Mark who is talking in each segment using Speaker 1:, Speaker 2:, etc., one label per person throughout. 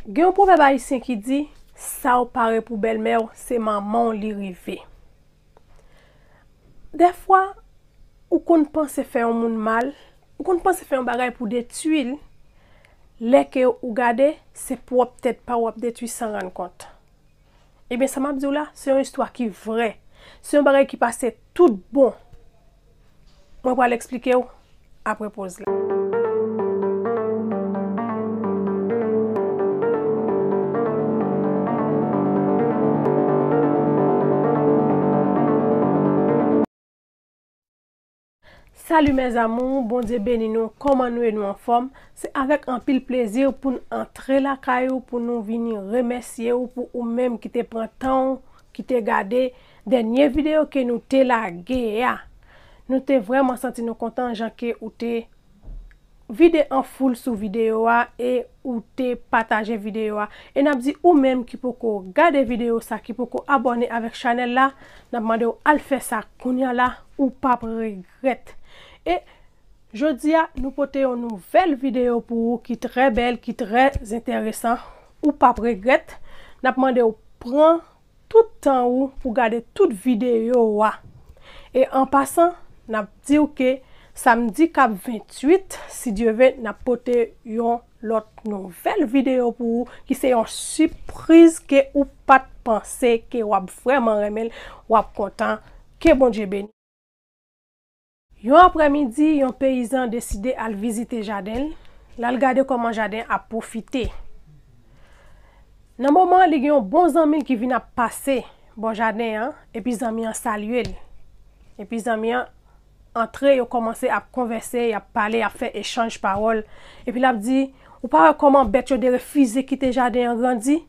Speaker 1: Gen yon pwovèb ayisyen ki di, sa w pare pou bèlmè w, se manman w li rive. Dèfwa, ou konn panse fè yon moun mal, ou konn panse fè yon bagay pou detui l, lè ke ou gade, se pwòp tèt pa w w ap detui san rann kont. Ebyen sa map diw la, se yon istwa ki vrè. Se yon bagay ki pase tout bon. Mwen pral eksplikew apre poz la. Salut mes amours Bondye beni nou kòman nou ye nou anfòm se avèk anpil plezi poun antre lakay ou pou nou vini remèsye ou pou ou menm ki te pran tan ou ki te gade dènye video ke nou te lage a nou te vrèman santi nou kontan jan ke ou te vide an foul sou video a e ou te pataje video a e nap di ou menm ki poko gade video sa ki poko abòne avèk chanèl la nap mandew al fè sa kounya la ou pap regrèt e jodia nou pote yon nouvèl video pou ou ki trè bèl ki trè zentèresan ou pap regrèt nap mandew pran tout tan ou pou gade tout videyo wa. E an pasan nap diw ke samdi kap 28 si Dye ve nap pote yon lòt nouvèl videyo pou ou ki se yon sipriz ke ou pat panse ke wap vrèman renmenl wap kontan ke Bondye beni. Yon aprèmidi, yon peyizan deside al vizite jaden l, l al gade kòman jaden ap pwofite. Nan moman an, li gen yon bon zanmi l ki vin ap pase bò jaden an, epi zanmi an salye l. Epi zanmi an antre, yo kòmanse ap konvèse, y ap pale, y ap fè echanj pawòl. Epi l ap di, Ou pa wè kòman bèt yo derefize kite jaden an grandi?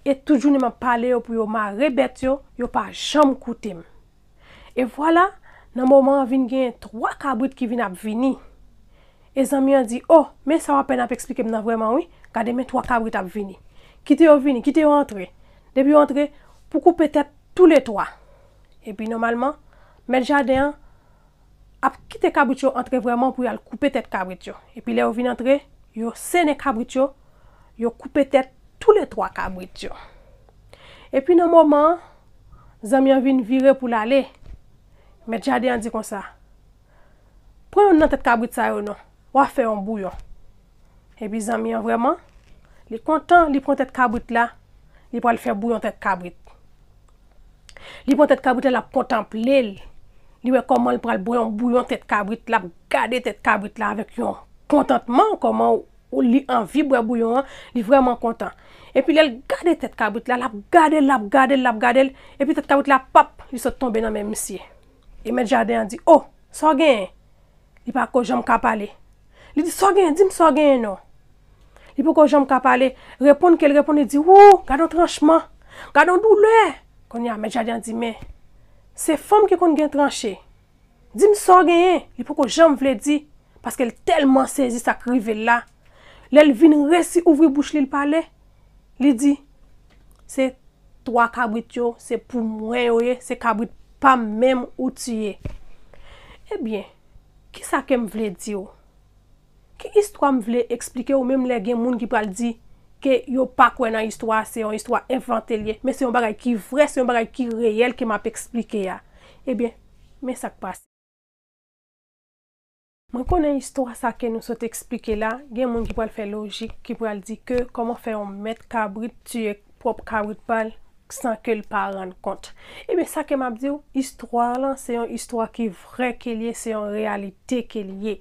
Speaker 1: E tout jounen m ap pale yo pou yo mare bèt yo, yo pa janm koute m. E vwala, nan moman an vin genyen twa kabrit ki vin ap vini. E zanmi an di, O, men sa w apèn ap esplike m nan vrèman wi, gade men twa kabrit ap vini. Kite yo vini, kite yo antre. Depi yo antre, pou koupe tèt toule twa. Epi nòmalman, mèt jaden an ap kite kabrit yo antre vrèman pou y al koupe tèt kabrit yo. Epi lè yo vin antre, yo sènen kabrit yo, yo koupe tèt toulètwa kabrit yo. Epi nan moman an, zanmi an vin vire pou l ale, mèt jaden an di konsa, Pran youn nan tèt kabrit sa yo non, w a fè yon bouyon. Epi zanmi an vrèman, li kontan, li pran tèt kabrit la, li pral fè bouyon tèt kabrit. Li pran tèt kabrit la lap kontanple l, li wè kòman l pral bwè yon bouyon tèt kabrit, lap gade tèt kabrit la avèk yon kontantman, kòman li anvi bwè bouyon an, li vrèman kontan. Epi lè l gade tèt kabrit la, lap gade l, lap gade l, lap gade l, epi tèt kabrit la pap, li sot tonbe nan men misye. E mèt jaden an di, o, sa w genyen? Li pa ko janm ka pale. Li di, sa w genyen? Di m sa w genyen non. Li poko janm ka pale. Reponn ke l reponn, li di, wou, gad yon tranchman! Gad yon doulè! Kounye a, mèt jaden an di, men, se fanm ki konn gen tranche. Di m sa w genyen? Li poko janm vle di, paske l tèlman sezi sa k rive l la. Lè l vin resi ouvri bouch li, l pale, li di, se twa kabrit yo, se pou mwen yo ye, se kabrit pa m menm ou tiye. Ebyen! Ki sa ke m vle di w? Ki istwa m vle eksplike w menm lè gen moun ki pral di ke yo pa kwè nan istwa a, se yon istwa envante l ye, men se yon bagay ki vrè, se yon bagay ki reyèl ke m ap eksplike a. Ebyen, men sa k pase. Mwen konnen istwa sa ke nou sot eksplike la, gen moun ki pral fè lojik, ki pral di ke kòman fè yon mèt kabrit tiye pwòp kabrit pa l? san ke l pa rann kont. Ebyen sa ke m ap di w, istwa lan se yon istwa ki vrè ke l ye, se yon reyalite ke l ye.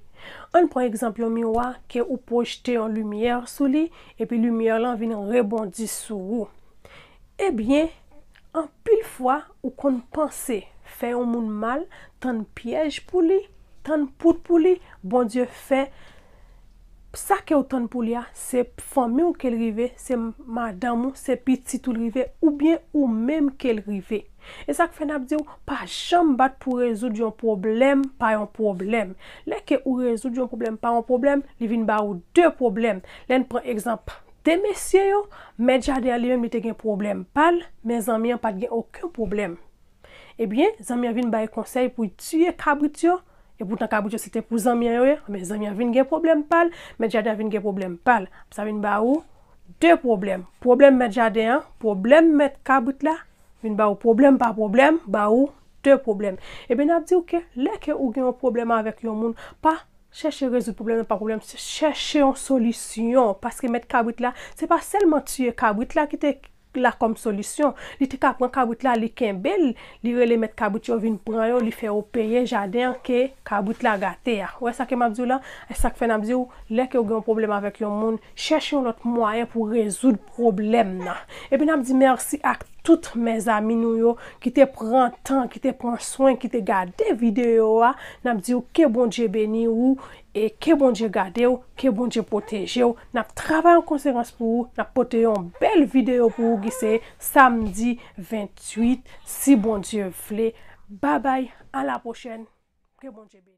Speaker 1: An n pran egzanp yon miwa ke ou pwojte yon limyè sou li, epi limyè lan vin rebondi sou ou. Ebyen, anpil fwa ou konn panse fè yon moun mal, tann pyèj pou li, tann poud pou li, Bondye fè Sa kew tann pou li a se fanmiw kel rive se madanm ou se pitit ou li rive oubyen ou menm kel rive esak fè nap diw pa janm bat pou rezoud yon pwoblèm pa yon pwoblèm lè ke ou rezoud yon pwoblèm pa yon pwoblèm li vin ba ou 2 pwoblèm lèn pran egzanp 2 mesye yo mèt jaden an li menm li te gen pwoblèm pal men zanmi an pat gen oken pwoblèm. Ebyen zanmi an vin bay konsèy pou y tiye kabrit yo, epoutan kabrit yo se te pou zanmi an yo ye, ebyen zanmi an vin gen pwoblèm pa l, mèt jaden an vin gen pwoblèm pa l. Sa vin ba ou 2 pwoblèm, pwoblèm mèt jaden an, pwoblèm mèt kabrit la, vin ba ou pwoblèm pa pwoblèm, ba ou 2 pwoblèm. Ebyen n ap di ou ke lè ke ou gen yon pwoblèm avèk yon moun, pa chèche rezoud pwoblèm nan pa pwoblèm, chèche yon solisyon, paske mèt kabrit la se pa sèlman tiye kabrit la ki te la kòm solisyon. Li te ka pran kabrit la li kenbe l, li rele mèt kabrit yo vin pran yo, li fè yo peye jaden an ke kabrit la gate a. Ou wè sa ke m ap di w la? E sa k fè n ap di w, lè ke ou gen yon pwoblèm avèk yon moun, chèche yon lòt mwayen pou rezoud pwoblèm nan. Epi n ap di mèsi ak tout mèzami nou yo ki te pran tan, ki te pran swen, ki te gade videyo a. N ap di w ke Bondye beni ou E ke Bondye gade w, ke Bondye pwoteje w, nap travay an konsekans pou ou, nap pote yon bèl videyo pou ou ki se samdi 28 si Bondye vle. Babay a la pwochèn ke Bondye beni.